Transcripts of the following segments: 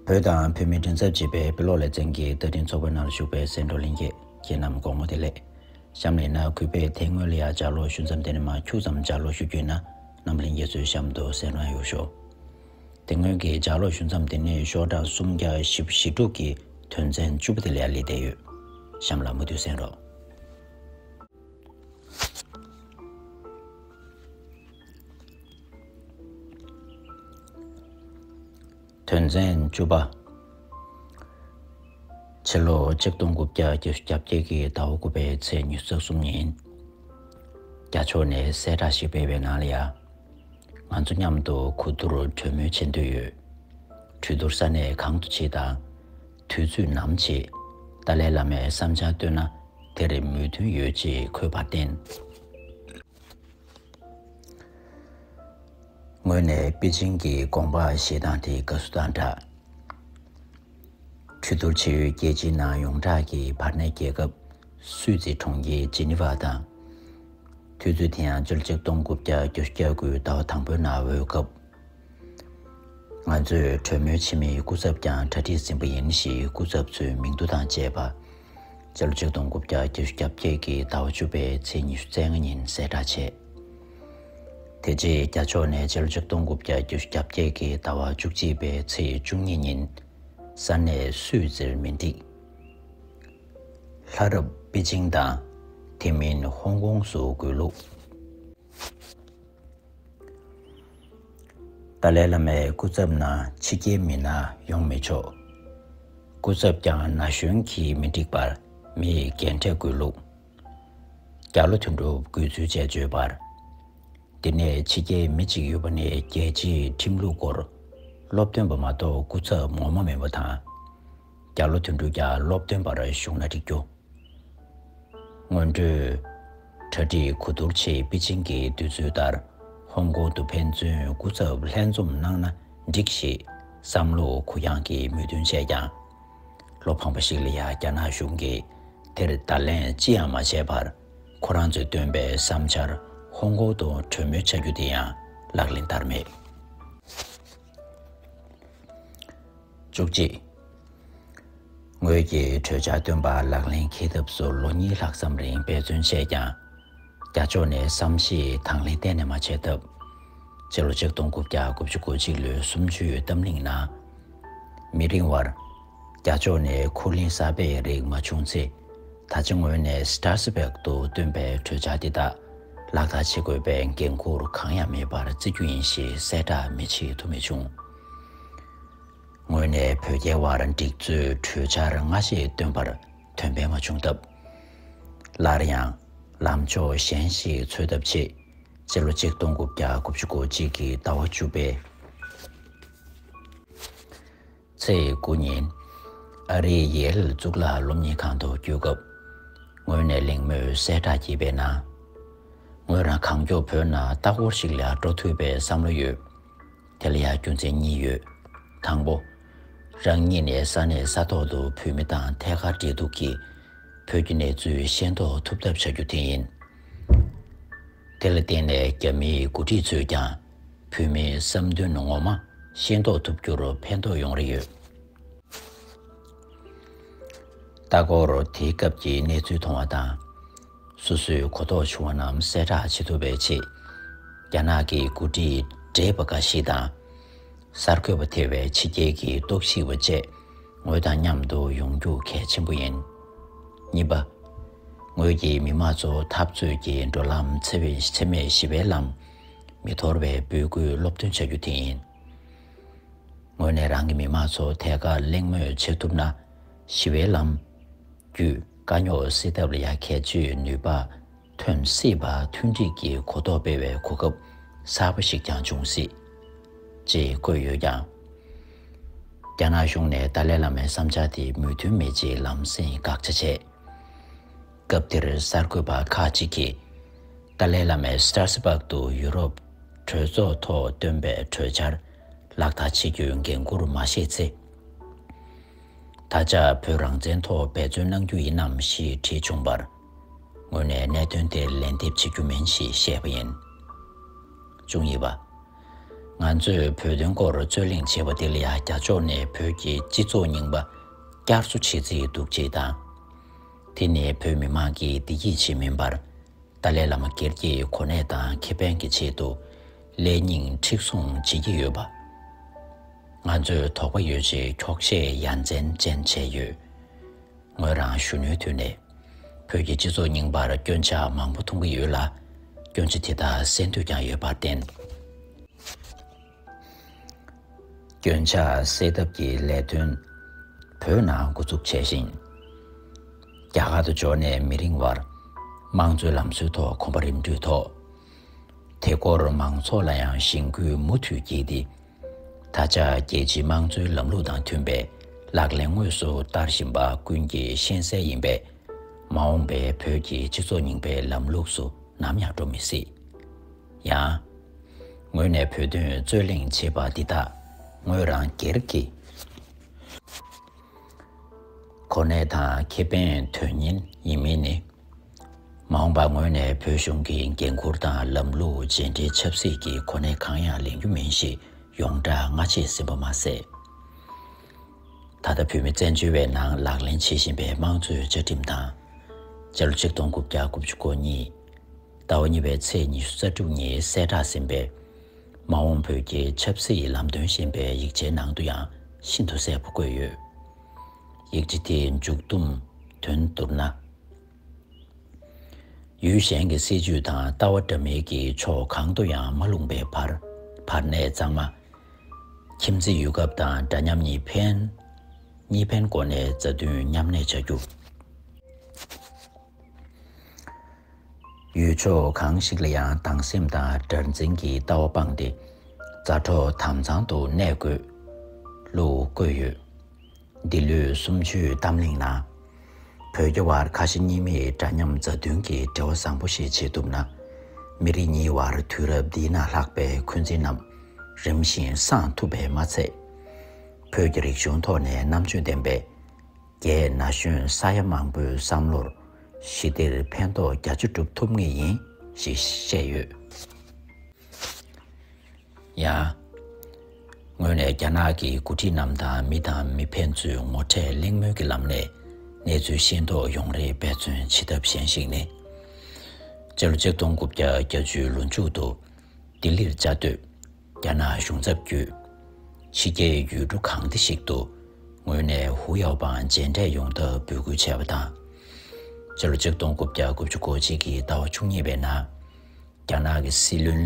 བོད་དང་བོད་མི་མགྲིན་ཚབ་བྱེད་པའི་བོད་ལོག་ལེ་ཚན་གྱི་བསྟར་འཕྲིན་ཚོགས་པའི་ནང་ཞུགས་པའི་སེང་འབྲོག་ལིང་རྒྱལ་ཁྱེད་རྣམས་དགོང་མོ་དེ་ལས། གཤམ་ལས་ན་གུས་པས་དེ་སྔོན་ལ་ཡང་ལྗགས་ཀློག་ཞུ་མཚམས་དེ་ནས་མ་འཁྱུག་ཙམ་ལྗགས་ཀློག་ཞུ་རྒྱུ་ཡིན་ན་རྣམ་གླིང་རྒྱལ་ཚོའི་གཤམ་དུ་སེང་རང་ཡོད་ཤོག། དེ་སྔོན་གྱི་ལྗགས་ཀློག་ཞུ་མཚམས་དེ་ནས་ཤོག་གྲངས་སུམ་བརྒྱ་བཞི་བཞི་དྲུག་གི་དོན་ཚན་བཅུ་པོ་དེ་ལ་ཡང་ལེ་བསྡད་ཡོད། གཤམ་ལ་མུ་མཐུད་གསན་རོགས། དོན་ཚན་བཅུ་པ། ཕྱི་ལོ་ཆིག་སྟོང་དགུ་བརྒྱ་བརྒྱད་ཅུ་གྱ་བརྒྱད་ཀྱི་ཟླ་བ་དགུ་པའི་ཚེས་ཉི་ཚེ་གསུམ་ཉིན། རྒྱ་ཕྱོགས་ནས་གསལ་བསྒྲགས་ཤིག་སྤེལ་བའི་ནང་ལ་ཡང། ང་ཚོ་མཉམ་དུ་གོ་བསྡུར་གྲོས་མོལ་བྱེད་འདོད་ཡོད། གྲོས་བསྡུར་ས་གནས་གང་དུ་བྱེད་དང། དུས་ཚོད་ནམ་བྱེད། ཏཱ་ལའི་བླ་མས་བསམ་འཆར་བཏོན་ན་དེར་མོས་མཐུན་ཡོད་ཅེས་འཁོད་པར་བརྟེན། ངོས་ནས་པེ་ཅིན་གྱི་དགོངས་པ་བཞེས་སྟངས་དེ་དགའ་བསུ་དང་སྦྲགས། གྲོས་བསྡུར་བྱེད་ཡུལ་རྒྱལ་སྤྱིའི་ནང་ཡོངས་གྲགས་ཀྱི་བར་གནས་རྒྱལ་ཁབ་སུད་སི་གྲོང་ཁྱེར་ཇི་ནི་ཝ་དང། དུས་ཚོད་དེ་ཡང་བཅུ་གཅིག་སྟོང་དགུ་བརྒྱ་བརྒྱད་ཅུ་གྱ་དགུའི་ཟླ་བ་དང་པོའི་ནང་འོས་སྐབས། ང་ཚོས་གྲོས་མོལ་བྱེད་མིའི་སྐུ་ཚབ་ཀྱང་གྲ་སྒྲིག་ཟིན་པ་ཡིན་ཞེས་སྐུ་ཚབ་ཚོའི་མིང་རྡུལ་དང་བཅས་པ། ཕྱི་ལོ་ཆིག་སྟོང་དགུ་བརྒྱ་བརྒྱད་ཅུ་གྱ་བརྒྱད་ཀྱི་ཟླ་བ་བཅུ་པའི་ཚེས་ཉི་ཤུ་རྩེ་ལྔ་ཉིན་གསལ་བསྒྲགས་བྱས། དེ་རྗེས་རྒྱ་ཕྱོགས་ནས་ཕྱི་ལོ་ཆིག་སྟོང་དགུ་བརྒྱ་བརྒྱད་ཅུ་གྱ་བརྒྱད་ཀྱི་ཟླ་བ་བཅུ་གཅིག་པའི་ཚེས་བཅུ་གཉིས་ཉིན། ས་གནས་སུད་ཛིར་མིན་ཏིག། ལྷ་རབས་པེ་ཅིང་དང་དེ་མིན་ཧོང་ཀོང་སུ་བགོས་ལུགས། ཏཱ་ལའི་བླ་མའི་སྐུ་ཚབ་ནང་ཕྱི་རྒྱལ་མི་སྣ་ཡོང་མི་ཆོག། སྐུ་ཚབ་ཀྱང་ན་གཞོན་གྱིས་མི་འགྲིག་པར་མི་ཡི་འགན་འཁྲི་དགོས་ལུགས། རྒྱ་ལོ་དོན་གྲུབ་དགོས་ཚུལ་བཅས་བརྗོད་པར། འདི་ནས་ཕྱི་རྒྱལ་མི་གཅིག་ཡོད་པ་ནི་རྒྱལ་སྤྱིའི་ཁྲིམས་ལུགས་སྐོར་སློབ་སྟོན་པ་མ་གཏོགས་སྐུ་ཚབ་ངོ་མ་མིན་པ་དང། བརྒྱ་ལོ་དོན་དྲུག་བརྒྱ་སློབ་སྟོན་པར་བཞུགས་ན་འགྲིག་རྒྱུ། སྔོན་འགྲོས། གྲ་སྒྲིག་གོ་བསྡུར་ཆེད་པེ་ཅིང་གི་འདོད་ཚུལ་ལྟར་ཧོང་ཀོང་དུ་ཕན་ཚུན་སྐུ་ཚབ་ལྷན་འཛོམས་གནང་ན་འགྲིག་ཞེས་བསམ་བློ་གུ་ཡངས་ཀྱིས་མོས་མཐུན་བྱས་ཀྱང། ལོ་འཕངས་པ་ཞིག་ལ་ཡང་རྒྱ་ནག་གཞུང་གིས་དེར་བརྡ་ལན་ཅི་ཡང་མ་བྱས་པར་ཁོ་རང་ཚོས་བཏོན་པའི་བསམ་འཆར་ཧོང་ཀོང་དུ་གྲོས་མོལ་བྱ་རྒྱུ་དེ་ཡང་ལག་ལེན་བསྟར་མེད། བཅུ་གཅིག། ངོས་ཀྱིས་གྲོས་འཆར་བཏོན་པ་ལག་ལེན་འཁེལ་ཐབས་སུ་ལོ་གཉིས་ལྷག་ཙམ་རིང་འབད་བརྩོན་བྱས་ཀྱང། རྒྱ་ཕྱོགས་ནས་བསམ་ཤེས་དང་ལེན་གཏན་ནས་མ་བྱས་སྟབས། ཕྱི་ལོ་ཆིག་སྟོང་དགུ་བརྒྱ་དགུ་བཅུ་གོ་གཅིག་ལོའི་གསུམ་བཅུའི་བཏབ་གླེང་ནང། མི་རིང་བར། རྒྱ་ཕྱོགས་ནས་ཁུར་ལེན་གསར་པའི་རིགས་མ་བྱུང་ཚེ། ད་ཆ་ངོས་ནས Strasbourg དུ་བཏོན་པའི་གྲོས་འཆར་འདི་དག་ལག་བསྟར་བྱེད་དགོས་པའི་འགན་ཁུར་གང་ཡང་མེད་པར་བརྩི་རྒྱུ་ཡིན་ཞེས་གསལ་བསྒྲགས་མི་བྱེད་ཐུ་མེད་བྱུང། ངོས་ནས་བོད་རྒྱའི་དབར་འགྲིག་མཛོད་གྲོས་འཆར་སྔ་ཕྱི་བཏོན་པར་དོན་ཕན་མ་བྱུང་སྟབས། སླར་ཡང་ལམ་ཕྱོགས་གཞན་ཞིག་འཚོལ་ཐབས་ཆེད་སྤྱི་ལོ་ཆིག་སྟོང་དགུ་བརྒྱ་དགུ་བཅུ་གོ་གཅིག་གི་ཟླ་བ་བཅུ་པའི་ཚེས་དགུ་ཉིན་ཨ་རིའི་ཡེ་ལ་གཙུག་ལག་སློབ་གཉེར་ཁང་དུ་བསྐྱོད་སྐབས། ངོས་ནས་གླེང་མོལ་གསལ་བསྒྲགས་བགྱིས་པའི་ནང། ངོས་རང་གང་མགྱོགས་བོད་ནང་ལྟ་སྐོར་ཞིག་ལ་འགྲོ་ཐུབ་པའི་བསམ་བློ་ཡོད། དེ་ལ་ཡང་རྒྱུ་མཚན་གཉིས་ཡོད། དང་པོ། རང་ཉིད་ནི་ས་གནས་ས་ཐོག་ཏུ་བོད་མི་དང་ཐད་ཀར་འབྲེལ་གཏུག་གིས། བོད་ཀྱི་གནས་ཚུལ་ཤེས་རྟོགས་ཐུབ་ཐབས་བྱ་རྒྱུ་དེ་ཡིན། དེ་ལ་བརྟེན་ནས་རྒྱ་མིའི་འགོ་ཁྲིད་ཚོས་ཀྱང་བོད་མིའི་བསམ་འདུན་ངོ་མ་ཤེས་རྟོགས་ཐུབ་རྒྱུར་ཕན་ཐོགས་ཡོང་རེ་ཡོད། ལྟ་སྐོར་དེའི་སྐབས་ཀྱི་གནས་ཚུལ་མཐོང་བ་དང། སོ་སོའི་གོ་རྟོགས་ཆུང་བ་རྣམས་གསལ་བསྒྲགས་བྱེད་ཐུབ་པའི་ཆེད། རྒྱ་ནག་གི་མགོ་ཁྲིད་གྲས་པ་འགའ་ཞིག་དང། གསར་འགོད་པ་ཐེ་བའི་ཕྱི་རྒྱལ་གྱི་རྟོག་ཞིབ་པ་བཅས་ངོས་དང་མཉམ་དུ་ཡོང་རྒྱུ་གལ་ཆེན་པོ་ཡིན། གཉིས་པ། ངོས་ཀྱིས་མི་དམངས་ཚོ་འཐབ་རྩོད་ཀྱི་འགྲོ་ལམ་འཚེ་མེད་ཞི་བའི་ལམ་མི་དོར་བའི་འབོད་སྐུལ་སློབ་སྟོན་བྱ་རྒྱུ་དེ་ཡིན། ངོས་ནས་རང་གི་མི་དམངས་ཚོ་ཐད་ཀར་གླེང་མོལ་བྱེད་ཐུབ་ན་ཞི་བའི་ལམ་བརྒྱུད། དཀའ་རྙོག་སེལ་ཐབས་ལ་ཡང་ཁྱད་ཆོས་ནུས་པ་ཐོན་སྲིད་པ་མཐུན་སྒྲིལ་གྱི་གོ་རྟོགས་སྤེལ་བའི་གོ་སྐབས་གསར་པ་ཞིག་ཀྱང་འབྱུང་སྲིད། ཅེས་བཀོད་ཡོད་ཀྱང། རྒྱ་ནག་གཞུང་ནས་ཏཱ་ལའི་བླ་མའི་བསམ་འཆར་དེ་མོས་མཐུན་མེད་ཅེས་ལམ་སེང་དགག་བྱ་བྱས། སྐབས་དེར་གསར་འགོད་པ་ཁག་ཅིག་གིས་ཏཱ་ལའི་བླ་མས Strasbourg དུ་ཡུ་རོབ་གྲོས་ཚོགས་ཐོག་བཏོན་པའི་གྲོས་འཆར་ལག་བསྟར་བྱེད་རྒྱུའི་འགན་ཁུར་མ་བཞེས་ཚེ། ད་ཆ་བོད་རང་བཙན་ཐོག་འབད་བརྩོན་གནང་རྒྱུ་ཡིན་ནམ་ཞེས་དྲིས་བྱུང་བར། ངོས་ནས་གནད་དོན་དེར་ལན་འདེབས་བྱེད་རྒྱུ་མིན་ཞེས་བཤད་པ་ཡིན། བཅུ་གཉིས་པ། ང་ཚོས་བོད་དོན་སྐོར་རྩོད་གླེང་བྱས་པ་དེ་ལ་ཡང་རྒྱ་ཕྱོགས་ནས་བོད་ཀྱི་སྤྱི་ཚོགས་རྙིང་པ་བསྐྱར་གསོ་བྱེད་རྩིས་འདུག་ཅེས་དང། དེ་ནི་བོད་མི་མང་གི་བདེ་སྐྱིད་ཆེད་མིན་པར། ཏཱ་ལའི་བླ་མ་སྒེར་གྱི་གོ་གནས་དང་ཁེ་ཕན་གྱི་ཆེད་དུ། ལས་རྙིང་མཁྲེགས་བཟུང་བྱེད་ཀྱི་ཡོད་པ། ང་ཚོས་དོགས་པ་ཡོད་ཅེས་འཁྱོག་བཤད་ཡ་མཚན་ཅན་བྱས་ཡོད། ངོས་རང་གཞོན་ནུའི་དུས་ནས་བོད་ཀྱི་སྤྱི་ཚོགས་རྙིང་པར་སྐྱོན་ཆ་མང་པོ་མཐོང་གི་ཡོད་ལ། སྐྱོན་ཆ་དེ་དག་སེལ་འདོད་ཀྱང་ཡོད་པར་བརྟེན། སྐྱོན་ཆ་སེལ་ཐབས་ཀྱི་ལས་དོན་བོད་ནང་འགོ་འཛུགས་བྱས་ཤིང། རྒྱ་གར་དུ་འབྱོར་ནས་མི་རིང་བར་དམངས་གཙོའི་ལམ་སྲོལ་ཐོག་གོམ་པ་རིམ་བགྲོད་ཐོག་དེ་སྐོར་མང་ཚོགས་ལ་ཡང་གཞེན་སྐུལ་མུ་མཐུད་བགྱིས་ཏེ། ད་ཆ་རྒྱལ་སྤྱིའི་དམངས་གཙོའི་ལམ་ལུགས་དང་མཐུན་པའི་ལག་ལེན་དངོས་སུ་བསྟར་བཞིན་པ་ཀུན་གྱི་ཤེས་གསལ་ཡིན་པས། མ་འོངས་པའི་བོད་ཀྱི་སྤྱི་ཚོགས་རྙིང་པའི་ལམ་ལུགས་སུ་ནམ་ཡང་འགྲོ་མི་སྲིད། ཡང། ངོས་ནས་བོད་དོན་རྩོད་གླེང་བྱེད་པ་འདི་དག་ངོས་རང་སྒེར་གྱི་གོ་གནས་དང་ཁེ་ཕན་དོན་གཉེར་ཡིན་མིན་ནི་མ་འོངས་པར་ངོས་ནས་བོད་གཞུང་གི་འགན་ཁུར་དང་ལམ་ལུགས་རྗེས་འབྲེལ་ཆབ་སྲིད་ཀྱི་གོ་གནས་གང་ཡང་ལེན་རྒྱུ་མིན་ཞེས་ཡོངས་གྲགས་སྔ་རྗེས་ཟིན་པ་མ་ཟད། ད་ལྟ་བོད་མི་བཙན་བྱོལ་བའི་ནང་ལག་ལེན་བྱེད་བཞིན་པའི་དམངས་གཙོའི་བཅའ་ཁྲིམས་དང། སྤྱི་ལོ་ཆིག་སྟོང་དགུ་བརྒྱ་དགུ་བཅུ་གོ་གཉིས། ཟླ་བ་གཉིས་པའི་ཚེས་ཉི་ཤུ་རྩ་དྲུག་ཉིན་གསལ་བསྒྲགས་ཟིན་པའི། མ་འོངས་བོད་ཀྱི་ཆབ་སྲིད་ལམ་སྟོན་ཞེས་པའི་ཡིག་ཆའི་ནང་དུ་ཡང་ཤིན་ཏུ་གསལ་པོ་བཀོད་ཡོད། ཡིག་ཆ་དེའི་མཇུག་བསྡོམས་དོན་བསྡུར་ན། ཡུལ་གཞན་གྱི་སྲིད་ཇུས་དང་ལྟ་བ་འདྲ་མིན་གྱི་ཕྱོགས་གང་དུ་ཡང་མ་ལྷུང་པའི་བར་བར་གནས་གཙང་མ། ཁྱིམ་མཚེས་ཡུལ་སྐབས་དང་འདྲ་མཉམ་གཉིས་ཕན། གཉིས་ཕན་སྒོ་ནས་མཛའ་མཐུན་མཉམ་གནས་བྱ་རྒྱུ། ཡུལ་ཕྱོགས་གང་ཞིག་ལ་ཡང་སྡང་སེམས་དང་དགྲར་འཛིན་གྱི་ལྟ་བ་སྤངས་ཏེ། མཛའ་གྲོགས་དམ་གཙང་དུ་གནས་དགོས། ལུགས་བཀོད་ཡོད། འདི་ལོའི་གསུམ་བཅུའི་གཏམ་གླེང་ནང། བོད་རྒྱ་བར་ཁ་ཞེ་གཉིས་མེད་འདྲ་མཉམ་མཛའ་མཐུན་གྱི་འབྲེལ་བ་བཟང་པོ་ཞིག་བྱེད་ཐུབ་ན། མི་རིགས་གཉིས་བར་དུས་རབས་འདི་ན་ལྷག་པའི་འཁོན་འཛིན་རྣམས་རིམ་བཞིན་སངས་ཐུབ་པས་མ་ཚད། བོད་ཀྱི་རིག་གཞུང་ཐོག་ནས་རྣམ་དཔྱོད་ལྡན་པའི་རྒྱའི་ན་གཞོན་ས་ཡ་མང་པོའི་བསམ་བློར་ཞི་བདེར་ཕན་ཐོགས་རྒྱ་ཆེ་སྒྲུབ་ཐུབ་ངེས་ཡིན་ཞེས་བཤད་ཡོད། ཡང། ངོས་ནས་རྒྱ་ནག་གི་འགོ་ཁྲིད་རྣམས་དང་མི་དང་མི་ཕན་ཚུན་ངོ་འཕྲད་གླེང་མོལ་གྱི་ལམ་ནས་གནས་ཚུལ་ཤེས་རྟོགས་ཡོང་རེ་འབད་བརྩོན་བྱེད་ཐབས་གཞན་ཞིག་ནི། སྤྱི་ལོ་ཆིག་སྟོང་དགུ་བརྒྱ་གྱ་བཅུའི་ལོ་མཇུག་ཏུ་ལྡི་ལིར་བཅའ་སྡོད་རྒྱ་ནག་གཞུང་ཚབ་བརྒྱུད། ཕྱི་རྒྱལ་ཡུལ་གྲུ་གང་འདི་ཞིག་ཏུ་ངོས་ནས་ཧུའུ་ཡའོ་པང་མཇལ་འཕྲད་ཡོང་ཐབས་འབོད་སྐུལ་བྱས་པ་དང། སྤྱི་ལོ་ཆིག་སྟོང་དགུ་བརྒྱ་དགུ་བཅུ་གོ་གཅིག་གི་ཟླ་བ་བཅུ་གཉིས་པའི་ནང། རྒྱ་ནག་གི་སྲིད་བློན།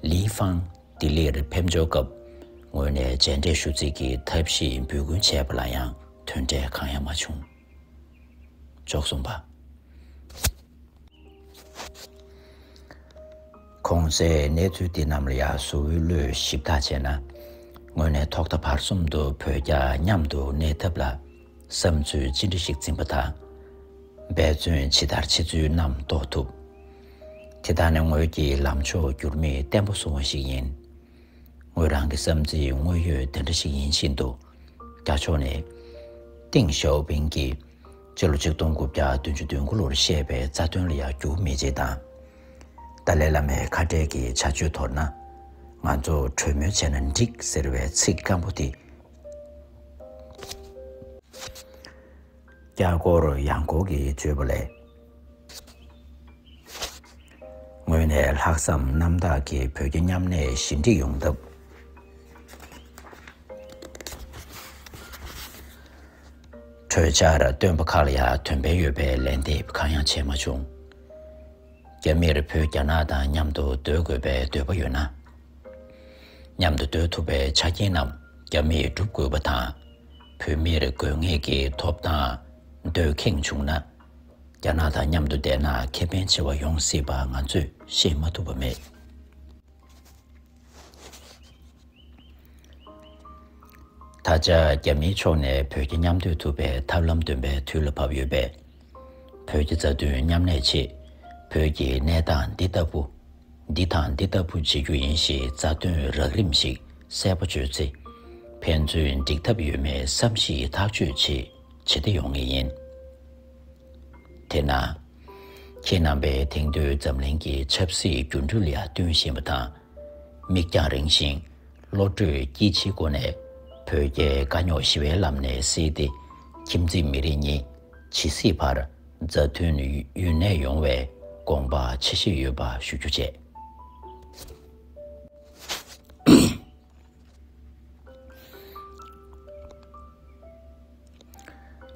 Li Fang། ལྡི་ལིར་ཕེབས་འབྱོར་སྐབས་ངོས་ནས་མཇལ་འཕྲད་ཞུ་རྩིས་ཀྱི་ཐབས་ཤེས་འབུལ་སྐུལ་བྱས་པ་ལ་ཡང་དོན་འབྲས་གང་ཡང་མ་བྱུང། འཇོག་གསུམ་པ། གོང་གསལ་གནས་ཚུལ་འདི་རྣམས་ལ་ཡར་གཟོ་བོའི་བློས་ཞིབ་དག་བྱས་ན། ངོས་ནས་ཐོག་མཐའ་བར་གསུམ་དུ་བོད་རྒྱ་མཉམ་དུ་གནས་ཐབས་ལ། བསམ་ཚུལ་ཅི་འདྲ་ཞིག་འཛིན་པ་དང། འབད་བརྩོན་ཇི་ལྟར་བྱེད་ཚུལ་རྣམས་རྟོགས་ཐུབ། དེ་དག་ནི་ངོས་ཀྱི་ལམ་ཕྱོགས་འགྱུར་མེད་བརྟན་པོ་བཟུང་བ་ཞིག་ཡིན། ངོས་རང་གི་བསམ་ཚུལ་དངོས་ཡོད་དེ་འདྲ་ཞིག་ཡིན་བཞིན་དུ། རྒྱ་ཕྱོགས་ནས། ཏིང་ཞའོ་ཕིང་གིས་ཕྱི་ལོ་ཆིག་སྟོང་དགུ་བརྒྱ་དོན་བཅུ་དོན་དགུ་ལོར་བཤད་པའི་རྩ་དོན་ལ་ཡང་འགྱུར་མེད་ཅིག་དང། ཏཱ་ལའི་བླ་མའི་ཁ་བྲལ་གྱི་བྱ་སྤྱོད་དོར་ན། ང་ཚོ་གྲོས་མོལ་བྱས་ན་འགྲིག་ཟེར་བའི་ཚིག་སྐམ་པོ་དེ་རྒྱ་སྒོར་གཡང་འགུགས་ཀྱི་སྤྱོད་པ་ལས། ངོས་ནས་ལྷག་བསམ་རྣམ་དག་གིས་བོད་རྒྱ་མཉམ་གནས་ཞི་འགྲིག་ཡོང་ཐབས། གྲོས་འཆར་བཏོན་པ་ཁག་ལ་ཡང་དོན་ཕན་ཡོད་པའི་ལན་འདེབས་གང་ཡང་བྱས་མ་བྱུང། རྒྱ་མིར་བོད་རྒྱ་ནག་དང་མཉམ་དུ་སྡོད་དགོས་པའི་འདོད་པ་ཡོད་ན། མཉམ་དུ་སྡོད་ཐུབ་པའི་ཆ་རྐྱེན་རྣམས་རྒྱ་མིས་བསྒྲུབ་དགོས་པ་དང། བོད་མིར་དགོས་ངེས་ཀྱི་ཐོབ་ཐང་འདོད་ཁེངས་བྱུང་ན། རྒྱ་ནག་དང་མཉམ་དུ་བསྡད་ན་ཁེ་ཕན་ཆེ་བ་ཡོང་སྲིད་པ་ང་ཚོས་ཤེས་མ་ཐུབ་པ་མེད། ད་ཆ་རྒྱ་མིའི་ཕྱོགས་ནས་བོད་ཀྱི་མཉམ་སྡོད་ཐུབ་པའི་ཐབས་ལམ་འདོན་པའི་དུས་ལ་བབས་ཡོད་པས། བོད་ཀྱི་རྩ་དོན་མཉམ་ལས་ཆེད་བོད་ཀྱི་གནས་སྟངས་འདི་ལྟ་བུ། འདི་དང་འདི་ལྟ་བུ་བྱེད་རྒྱུ་ཡིན་ཞེས་རྩ་དོན་རགས་རིམ་ཞིག་གསལ་པོ་བརྗོད་ཚེ། ཕན་ཚུན་འགྲིག་ཐབས་ཡོད་མེད་བསམ་གཞིག་ཐག་གཅོད་ཆེས་ཇེ་བདེ་ཡོང་ངེས་ཡིན། དེས་ན། ཁྱེད་རྣམ་པས་དེང་དུས་འཛམ་གླིང་གི་ཆབ་སྲིད་འགྱུར་འགྲོས་ལ་བསྟུན་བཞིན་པ་དང། མིག་རྒྱང་རིང་ཞིང་བློ་གྲོས་སྐྱིད་ཆེའི་སྒོ་ནས་བོད་རྒྱའི་དཀའ་རྙོག་ཞི་བའི་ལམ་ནས་བསེལ་ཏེ་ཁྱིམ་མཚེས་མི་རིགས་གཉིས་ཇི་སྲིད་བར་མཛའ་མཐུན་ཡུན་གནས་ཡོང་བའི་དགོངས་པ་ཆེ་བཞེས་ཡོད་པ་ཞུ་རྒྱུ་བཅས།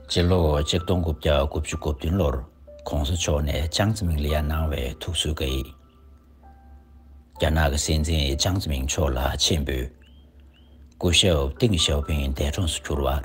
སྤྱི་ལོ་ཆིག་སྟོང་དགུ་བརྒྱ་དགུ་བཅུ་དགུ་བདུན་ལོར ྋགོང་ས་མཆོག་ནས་ཅང་ཙེ་མིང་ལ་ཡར་གནང་བའི་ཐུགས་གསོའི་བཀའ་ཡིག། རྒྱ་ནག་གི་སྲིད་འཛིན་ཅང་ཙེ་མིང་མཆོག་ལ་ཆེད་འབུལ། སྐུ་ཞབས་ཏིང་ཞའོ་ཕིང་འདས་གྲོངས་སུ་གྱུར་བར།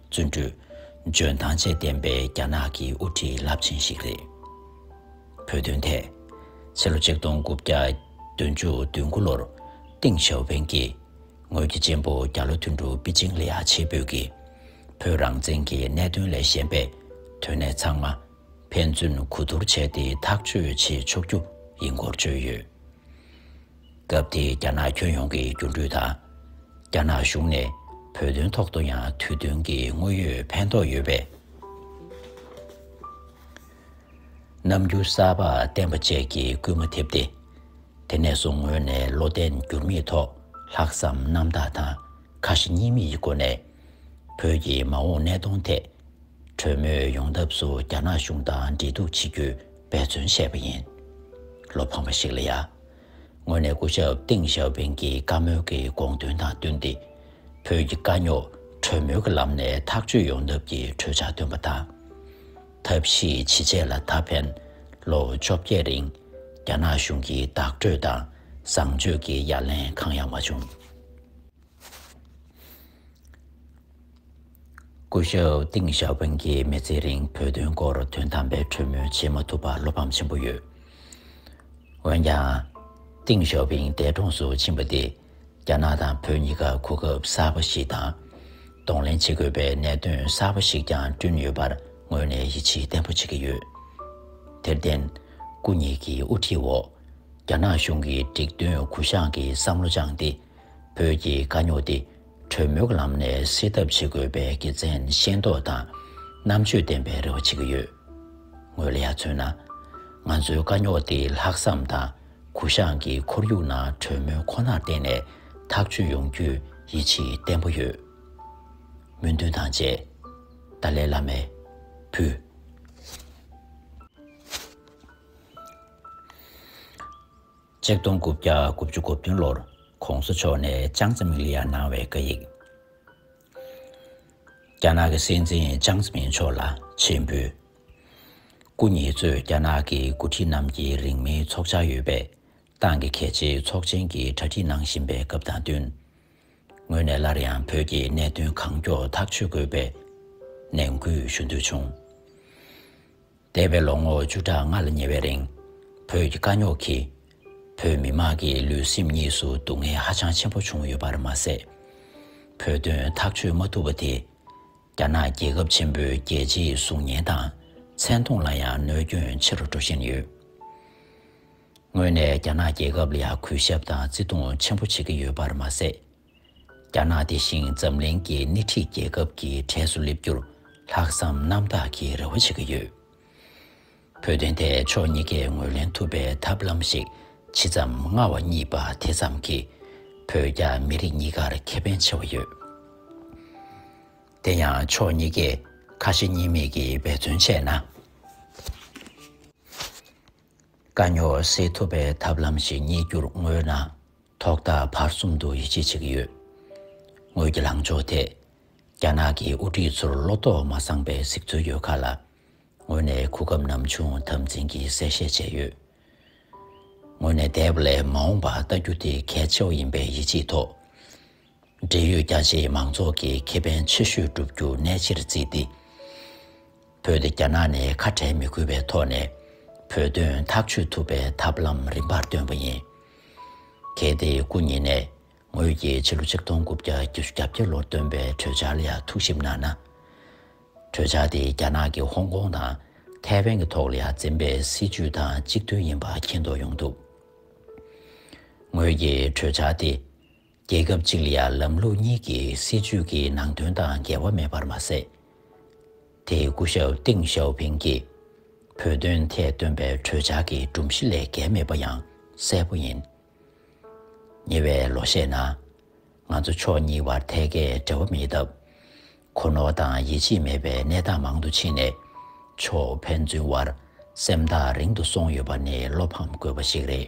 བརྩོན་འགྲུས། འཇོན་ཐང་བཅས་ལྡན་པའི་རྒྱ་ནག་གི་དབུ་ཁྲིད་རླབས་ཆེན་ཞིག་རེད། བོད་དོན་ཐད། ཕྱི་ལོ་ཆིག་སྟོང་དགུ་བརྒྱ་བདུན་ཅུ་དོན་དགུ་ལོར་ཏིང་ཞའོ་ཕེན་གྱིས་ངོས་ཀྱི་གཅེན་པོ་རྒྱ་ལོ་ཐུན་ཀྲུའུ་པི་ཅིང་ལི་ཨ་ཆེ་བོད་ཀྱིས་བོད་རང་བཙན་གྱི་གནད་དོན་ལས་གཞན་པའི་དོན་གནད་ཚང་མ་ཕན་ཚུན་གོ་བསྡུར་བྱས་ཏེ་ཐག་གཅོད་བྱེད་ཆོག་རྒྱུ་ཡིན་སྐོར་བརྗོད་ཡོད། སྐབས་དེའི་རྒྱ་ནག་ཁྱོན་ཡོངས་ཀྱི་འགྱུར་འགྲོས་དང། རྒྱ་ནག་གཞུང་ནས་བོད་དོན་ཐོག་ཏུ་ཡང་དུས་བསྟུན་གྱི་དངོས་ཡོད་ཕན་ཐོགས་ཡོད་པའི་རྣམ་འགྱུར་གསར་པ་བསྟན་པ་བཅས་ཀྱིས་སྐུལ་མ་ཐེབས་ཏེ། དེ་ནས་བཟུང་ངོས་ནས་བློ་བརྟན་འགྱུར་མེད་ཐོག་ལྷག་བསམ་རྣམ་དག་དང་ཁ་ཞེ་གཉིས་མེད་ཀྱི་སྒོ་ནས། བོད་ཀྱི་མ་འོངས་གནས་སྟངས་ཐད། གྲོས་མོལ་ཡོང་ཐབས་སུ་རྒྱ་ནག་གཞུང་དང་འབྲེལ་གཏུག་བྱེད་རྒྱུའི་འབད་བརྩོན་བྱས་པ་ཡིན། བློ་ཕམ་པ་ཞིག་ལ་ཡ། ངོས་ནས་སྐུ་ཞབས་ཏིང་ཞའོ་ཕིང་གི་བཀའ་མོལ་གྱི་དགོངས་དོན་དང་བསྟུན་ཏེ། བོད་ཀྱི་དཀའ་རྙོག་གྲོས་མོལ་གྱི་ལམ་ནས་ཐག་གཅོད་ཡོང་ཐབས་ཀྱི་གྲོས་འཆར་བཏོན་པ་དང། ཐབས་ཤེས་ཇི་བྱས་ལ་ད་ཕན་ལོ་བཅོ་བརྒྱད་རིང་རྒྱ་ནག་གཞུང་གི་བདག་སྤྲོད་དང་བཟང་སྤྱོད་ཀྱི་ཡ་ལན་གང་ཡང་མ་བྱུང། སྐུ་ཞབས་ཏིང་ཞའོ་ཕིང་གིས་མི་ཚེའི་རིང་བོད་དོན་སྐོར་དོན་དམ་པའི་གྲོས་མོལ་བྱེད་མ་ཐུབ་པར་བློ་ཕམ་ཆེན་པོ་ཡོད། འོན་ཀྱང། ཏིང་ཞའོ་ཕིང་འདས་གྲོངས་སུ་ཕྱིན་པ་དེས་རྒྱ་ནག་དང་བོད་གཉིས་ཀ་གོ་སྐབས་གསར་པ་ཞིག་དང། གདོང་ལེན་བྱེད་དགོས་པའི་གནད་དོན་གསར་པ་ཞིག་ཀྱང་བསྐྲུན་ཡོད་པར་ངོས་ནས་ཡིད་ཆེས་བརྟན་པོ་བྱེད་ཀྱི་ཡོད། དེར་བརྟེན། སྐུ་ཉིད་ཀྱི་དབུ་ཁྲིད་འོག་རྒྱ་ནག་གཞུང་གིས་འགྲིག་མཐུན་གུ་བཤངས་ཀྱི་བསམ་བློ་བཅངས་ཏེ། བོད་ཀྱི་དཀའ་རྙོག་འདི་གྲོས་མོལ་གྱི་ལམ་ནས་སེལ་ཐབས་བྱེད་དགོས་པའི་དགེ་མཚན་ཤེས་མདོག་དང་རྣམ་དཔྱོད་ལྡན་པའི་རེ་བ་བྱེད་ཀྱི་ཡོད། ངོས་ལ་ཡ་མཚོན་ན། ང་ཚོའི་དཀའ་རྙོག་འདི་ལྷག་བསམ་དང་གུ་བཤངས་ཀྱི་ཁོར་ཡུག་ནང་གྲོས་མོལ་ཁོ་ནར་བརྟེན་ནས་ཐག་གཅོད་ཡོང་རྒྱུའི་ཡིད་ཆེས་བརྟན་པོ་ཡོད། སྨོན་འདུན་དང་བཅས། ཏཱ་ལའི་བླ་མའི། བུ། ཆིག་སྟོང་དགུ་བརྒྱ་དགུ་བཅུ་དགུ་བདུན་ལོར ྋགོང་ས་མཆོག་ནས་ཅང་ཙེ་མིང་ལ་ཡར་གནང་བའི་བཀའ་ཡིག། རྒྱ་ནག་གི་སྲིད་འཛིན་ཅང་ཙེ་མིང་མཆོག་ལ་མཆན་འབུལ། སྐུ་ཉིད་གཙོས་རྒྱ་ནག་གི་འགོ་ཁྲིད་རྣམས་ཀྱིས་རིང་མིན་འཚོགས་འཆར་ཡོད་པའི་ཏང་གི་གལ་ཆེའི་ཚོགས་ཆེན་གྱི་གྲ་སྒྲིག་གནང་བཞིན་པའི་སྐབས་དང་བསྟུན། ངོས་ནས་སླར་ཡང་བོད་ཀྱི་གནད་དོན་གང་མགྱོགས་ཐག་གཅོད་དགོས་པའི་ནན་སྐུལ་ཞུ་འདོད་བྱུང། འདས་པའི་ལོ་ངོ་བཅུ་ཕྲག་ལྔ་ལ་ཉེ་བའི་རིང། བོད་ཀྱི་དཀའ་རྙོག་གིས། བོད་མི་དམངས་ཀྱི་ལུས་སེམས་གཉིས་སུ་སྡུག་བསྔལ་ཧ་ཅང་ཆེན་པོ་བྱུང་ཡོད་པར་མ་ཟད། བོད་དོན་ཐག་གཅོད་མ་ཐུབ་པ་དེས། རྒྱ་ནག་རྒྱལ་ཁབ་ཆེན་པོའི་རྒྱལ་སྤྱིའི་གཟུགས་བརྙན་དང་མཚན་མཐོང་ལ་ཡང་གནོད་སྐྱོན་ཆེ་རུ་འགྲོ་བཞིན་ཡོད། དངོས་ནས་རྒྱ་ནག་རྒྱལ་ཁབ་ལ་ཡང་གུས་ཞབས་དང་བརྩི་མཐོང་ཆེན་པོ་བྱེད་ཀྱི་ཡོད་པར་མ་ཟད། རྒྱ་ནག་དེ་བཞིན་འཛམ་གླིང་གི་སྣེ་ཁྲིད་རྒྱལ་ཁབ་ཀྱི་གྲས་སུ་སླེབས་རྒྱུར་ལྷག་བསམ་རྣམ་དག་གིས་རེ་བ་བྱེད་ཀྱི་ཡོད། བོད་དོན་ཐད་ཕྱོགས་གཉིས་ཀས་ངོས་ལེན་ཐུབ་པའི་ཐབས་ལམ་ཞིག་ཇི་ཙམ་མངའ་བ་གཉིས་པ་དེ་ཙམ་གྱིས་བོད་རྒྱ་མི་རིགས་གཉིས་ཀར་ཁེ་ཕན་ཆེ་བ་ཡོད། དེ་ཡང་ཕྱོགས་གཉིས་ཀས་ཁ་ཞེ་གཉིས་མེད་ཀྱིས་འབད་བརྩོན་བྱས་ན། དཀའ་རྙོག་སེལ་ཐུབ་པའི་ཐབས་ལམ་ཞིག་རྙེད་རྒྱུར་མངོན་ན། ཐོག་མཐའ་བར་གསུམ་དུ་ཡིད་ཆེས་བྱེད་ཀྱི་ཡོད། ངོས་ཀྱི་ལངས་ཕྱོགས་དེ། རྒྱ་ནག་གི་དབུ་ཁྲིད་ཚོར་བློ་དོགས་མ་སངས་པའི་གཟིགས་ཚུལ་ཡོད་ཁག་ལ། ངོས་ནས་གོ་སྐབས་ནམ་བྱུང་དམ་འཛིན་གྱིས་གསལ་བཤད་བྱས་ཡོད། ངོས་ནས་དེབ་ལས་མ་འོངས་པ་བལྟ་རྒྱུ་དེ་གལ་ཆེ་བ་ཡིན་པའི་ཡིད་ཆེས་ཐོག། འབྲེལ་ཡོད་རྒྱ་ཆེའི་མང་ཚོགས་ཀྱི་ཁེ་ཕན་ཆེ་ཤོས་བསྒྲུབ་རྒྱུ་གནད་ཆེར་བརྩིས་ཏེ། བོད་དེ་རྒྱ་ནག་ནས་ཁ་བྲལ་མི་དགོས་པའི་ཐོག་ནས་བོད་དོན་ཐག་གཅོད་ཐུབ་པའི་ཐབས་ལམ་རིམ་པར་བཏོན་པ་ཡིན། གལ་ཏེ་སྐུ་ཉིད་ནས་ངོས་ཀྱིས་ཕྱི་ལོ་ཆིག་སྟོང་དགུ་བརྒྱ་བརྒྱད་ཅུ་གྱ་བརྒྱད་ལོར་བཏོན་པའི་གྲོས་འཆར་ལ་ཡང་ཐུགས་ཞིབ་གནང་ན། གྲོས་འཆར་དེ་རྒྱ་ནག་གི་ཧོང་ཀོང་དང་ཐའེ་ཝན་གྱི་ཐོག་ལ་ཡང་འཛིན་པའི་སྲིད་བྱུས་དང་གཅིག་མཐུན་ཡིན་པ་མཁྱེན་རྟོགས་ཡོང་ཐུབ། ངོས་ཀྱིས་གྲོས་འཆར་དེ་རྒྱལ་ཁབ་གཅིག་ལ་ཡང་ལམ་ལུགས་གཉིས་ཀྱི་སྲིད་ཇུས་ཀྱི་ནང་དོན་དང་འགལ་བ་མེད་པར་མ་ཟད། དེས་སྐུ་ཞབས་ཏིང་ཞའོ་ཕིང་གིས་བོད་དོན་ཐད་བཏོན་པའི་གྲོས་འཆར་གྱི་སྒྲོམ་གཞི་ལས་འགལ་མེད་པ་ཡང་གསལ་པོ་ཡིན། ཉེ་བའི་ལོ་ཤས་ནང། ང་ཚོ་ཕྱོགས་གཉིས་བར་ཐད་ཀའི་འབྲེལ་བ་མེད་སྟབས། གོ་ནོར་དང་ཡིད་ཆེས་མེད་པའི་གནས་སྟངས་མང་དུ་ཕྱིན་ནས། ཕྱོགས་ཕན་ཚུན་བར་སེམས་ཐག་རིང་དུ་སོང་ཡོད་པ་ནི་བློ་ཕམ་དགོས་པ་ཞིག་རེད།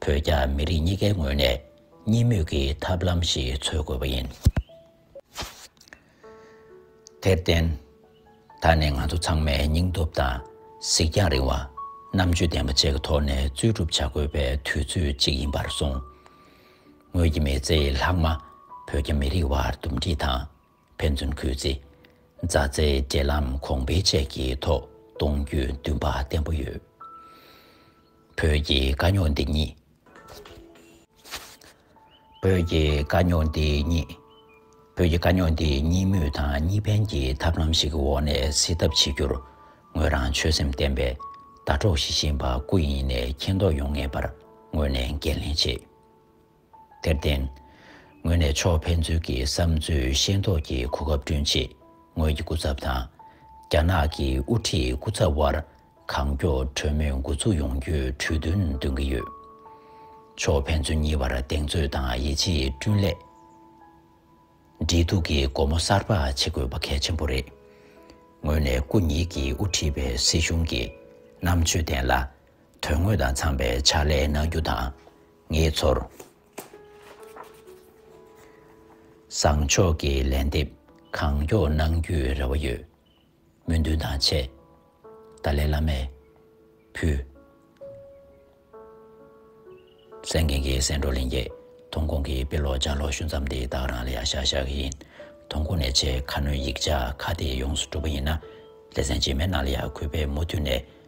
བོད་རྒྱ་མི་རིགས་གཉིས་ཀའི་ངོས་ནས་གཉིས་མོས་ཀྱི་ཐབས་ལམ་ཞིག་འཚོལ་དགོས་པ་ཡིན། དེར་བརྟེན། ད་ནི་ང་ཚོ་ཚང་མས་སྙིང་སྟོབས་དང་གཟིགས་རྒྱང་རིང་བ། རྣམ་དཔྱོད་ལྡན་པ་བཅས་ཀྱི་ཐོག་ནས་རྩོད་སྒྲུབ་བྱ་དགོས་པའི་དུས་ཚོད་ཅིག་ཡིན་པར་སོང། ངོས་ཀྱི་མི་ཚེའི་ལྷག་མ་བོད་རྒྱ་མི་རིགས་བར་འདུམ་འགྲིག་དང། ཕན་ཚུན་གུས་བརྩི། མཛའ་བརྩེའི་འབྲེལ་ལམ་གོང་འཕེལ་བཅས་ཀྱི་ཐོག་གཏོང་རྒྱུའི་འདུན་པ་བརྟན་པོ་ཡོད། བོད་ཀྱི་དཀའ་རྙོག་འདི་ཉིད། བོད་ཀྱི་དཀའ་རྙོག་འདི་ཉིད། བོད་ཀྱི་དཀའ་རྙོག་འདི་གཉིས་མོས་དང་གཉིས་ཕན་གྱི་ཐབས་ལམ་ཞིག་གི་འོག་ནས་སེལ་ཐབས་བྱེད་རྒྱུར་ངོས་རང་ཆོད་སེམས་བརྟན་པས་ཟླ་གྲོགས་ཞི་ཞིང་བ་སྐུ་ཡིན་ནས་མཁྱེན་རྟོགས་ཡོང་ངེས་པར་ངོས་ནས་འགན་ལེན་བྱེད། དེར་བརྟེན། ངོས་ནས་ཕྱོགས་ཕན་ཚུན་གྱི་བསམ་ཚུལ་ཤེས་རྟོགས་ཀྱི་གོ་སྐབས་བསྐྲུན་ཆེད་ངོས་ཀྱི་སྐུ་ཚབ་དང། རྒྱ་ནག་གི་དབུ་ཁྲིད་སྐུ་ཚབ་དབར་གང་མགྱོགས་གྲོས་མོལ་འགོ་འཛུགས་ཡོང་རྒྱུའི་གྲོས་མཐུན་འདོན་གྱི་ཡོད། ཕྱོགས་ཕན་ཚུན་གཉིས་བར་གདེང་ཚོད་དང་ཡིད་ཆེས་བསྐྲུན་སླད། འབྲེལ་གཏུག་གི་སྒོ་མོ་གསར་པ་ཕྱེ་དགོས་པ་གལ་ཆེན་པོ་རེད། ངོས་ནས་སྐུ་ཉིད་ཀྱིས་དབུ་ཁྲིད་པའི་སྲིད་གཞུང་གི་རྣམ་དཔྱོད་ལྡན་ལ། དོན་དངོས་དང་འཚམ་པའི་ཕྱག་ལས་གནང་རྒྱུ་དང། ངེད་ཚོར་བཟང་ཕྱོགས་ཀྱི་ལན་འདེབས་གང་མགྱོགས་གནང་རྒྱུའི་རེ་བ་ཡོད། སྨོན་འདུན་དང་ཆེ། ཏཱ་ལའི་བླ་མས་ཕུལ། སེང་རྒན་གྱི་སེང་སྒྲོག་ལིང་རྒྱས་ཐོང་ཁོང་གིས་དཔེ་ཀློག་ལྗགས་ཀློག་ཤུ་མཚམས་དེ་དག་རང་ལ་ཡང་ཤག་ཤག་གི་ཡིན། ཐོང་ཁོང་ནས་ཆེས་ཁ་སྣོན་ཡིག་ཆ་ཁ་དེ་ཡོངས་སུ་གྲུབ་པ་ཡིན་ན། ལེ་ཚན་རྗེས་མའི་ནང་ལ་ཡང་གུས་པས་མུ་མཐུད་ནས